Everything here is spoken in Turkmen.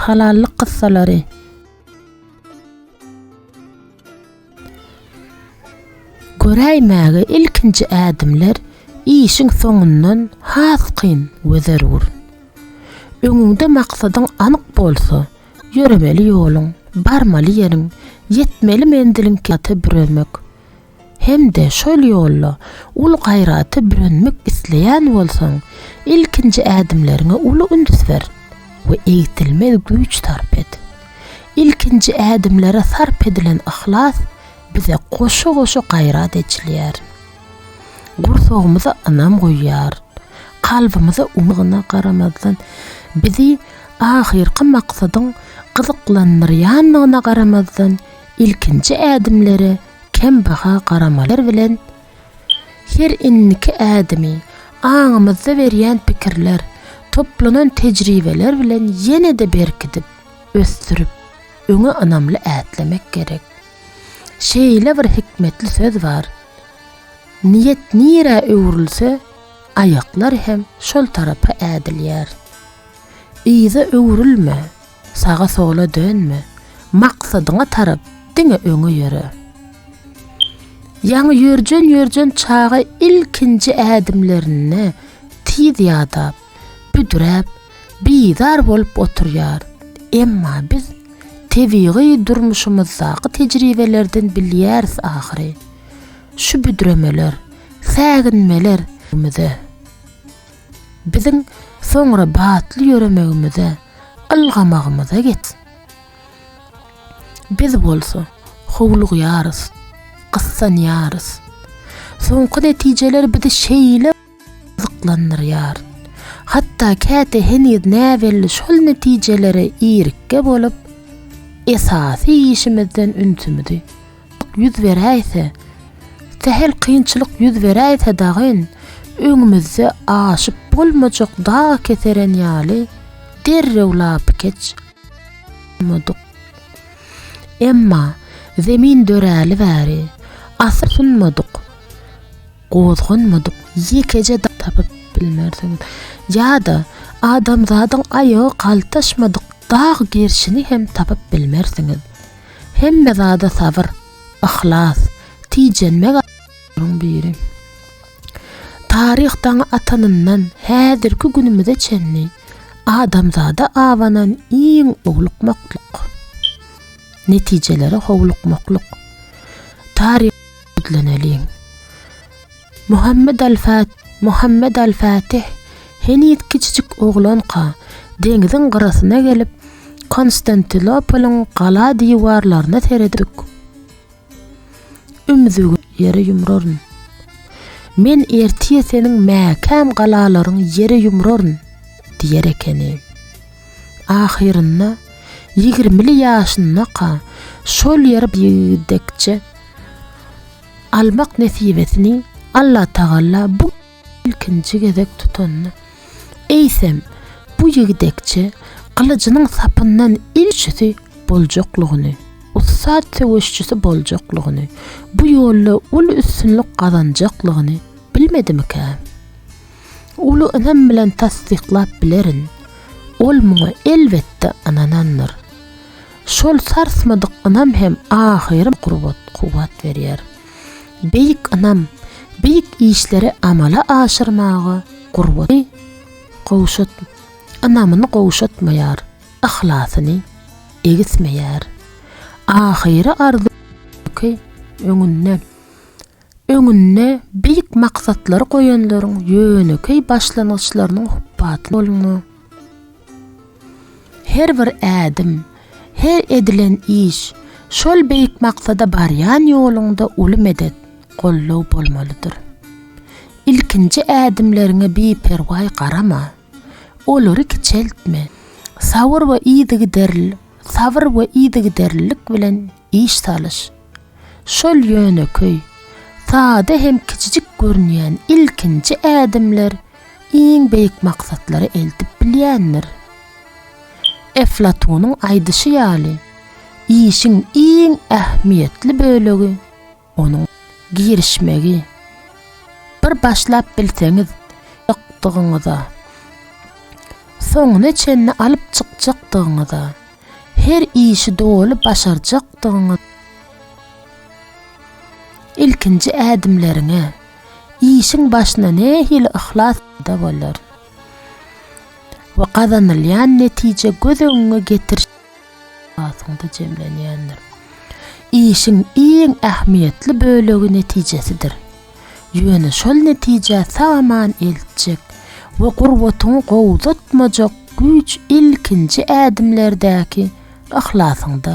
Halallyk kyssalary. Göräýmäge ilkinji ädimler işiň soňundan has kyn we zerur. Öňüňde maksadyň anyk bolsa, ýöremeli ýoluň, barmaly ýeriň, ýetmeli menziliň kynasy büremek, hem-de şol ýolda uly gaýrata bürenmek isleýän bolsaň, ilkinji ädimleriňe uly üns ber we egsilmez güýç sarp et. Ilkinji ädimlere sarp edilen yhlas bize goşa-goşa gaýrat eçilýär. Gursagymyza ynam guýýar. Kalbymyza umyt. Gyna garamazdan, bizi ahyrky maksadyň gyzyklandyrýandygyna garamazdan, ilkinji ädimlere kembaha garamalar bilen her indiki ädimi, aňymyzda berýän pikirler, toplanan tejribeler bilen ýene-de berkidip, ösdürip, öňe ynamly ätlemek gerek. Şeýle bir hikmetli söz bar, Niýet nirä öwrülse, aýaklar hem şol tarapa ädilýär. Yza öwrülme, Saga-sola dönme, maksadyňa tarap diňe öňe ýöre. Ýaňy ýörjen-ýörjen çaga ilkinji ädimlerinde tiz ýadap, büdräp, bizar bolup oturýar. Emma biz tebigy durmuşymyzdaky tejribelerden bilýäris ahyry, şu büdremeler, säginmeler ömrümize. Biziň soňra batly ýöremegimize, ylgamagymyza get. Biz bolsa, howlugýarys, gyssanýarys. Soňky netijeler bizi şeýle gyzyklandyrýar. Hatda käte heniz näbelli şol netijelere irikge bolup, esasy işimizden ünsümizi ýüz beräýse, sähel kynçylyk ýüz beräýse dagyn, öňümizde aşyp bolmajak dag keseren ýaly derrew lapykeç bolmadyk. Emma Zemin döräli bäri, asla synmadyk, gozganmadyk ýekeje dag tapyp bilmersiňiz. Ýa-da adamzadyň aýagy galtaşmadyk dag gerşini hem tapyp bilmersiňiz. Hemme zada sabyr, yhlas, tijenmek aýlaryň biri. Taryh daňy atanyndan häzirki günümize çenli adamzada abanan iň owlukmaklyk, netijelere howlukmaklyk taryha ýüzleneliň. Muhammet al-Fat, Muhammet al-Fatih, heniz kiçijik oglanka, deňziň gyrasyna gelip, Konstantinopolyň gala diwarlaryna seredip, ümzügi ýere ýumraryn. Men ertir seniň mäkäm galalaryňy ýere ýumraryn, diýer ekeni. Ahyrynda, ýigrimili ýaşyndaka, şol ýere gidekçe, almak nesibesini Allatagalla bu ilkinji gezek tutanda, eýsem, bu ýigdekçe gylyjynyň sapyndan ilçisi boljaklygyny, ussat söweşçisi boljaklygyny, bu ýolda uly üstünlik gazanjaklygyny bilmedimikä? Uly ynam bilen tassyklap bilerin, ol muňa elbetde ynanandyr. Şol sarsmadyk ynam hem ahyrym gurbat, kuwwat berýär. Beýik ynam, beýik işleri amala aşyrmaga gurbaty gowşut, ynamyny gowşatmaýar, yhlasyny egismeýär. Ahyry arzuwky öňünde. Öňünde beýik maksatlary goýanlaryň ýönekeý başlangyçlarynyň hupbaty bolma. Her bir ädim, her edilen iş şol beýik maksada barýan ýoluňda uly medet, goldaw bolmalydyr. Ilkinji ädimleriňe biperwaý garama. Olary kiçeltme. Sabyr we yzygiderlilik bilen Iş salyş. Şol ýönekeý, sada hem kiçijik görünýän ilkinji ädimler iň beýik maksatlary eltip bilýändir. Eflatunyň aýdyşy ýaly, işiň iň ähmiýetli bölegi Onuň girişmegi bir başlap bilseňiz ýokdugyňyza, soňuna çenli alyp çykjakdygyňyza, her işi doly başarjakdygyňyz, ilkinji ädimleriňe, işiň başyna nähili yhlas peýda bolar we gazanylýan netije göz öňüňe getirişiň. esasynda jemlenýändir. Işiň iň ähmiýetli bölegi netijesidir. Ýöne şol netijä sag-aman eltjek we gurbatyňy gowzatmajak güýç ilkinji ädimlerdäki yhlasyňda.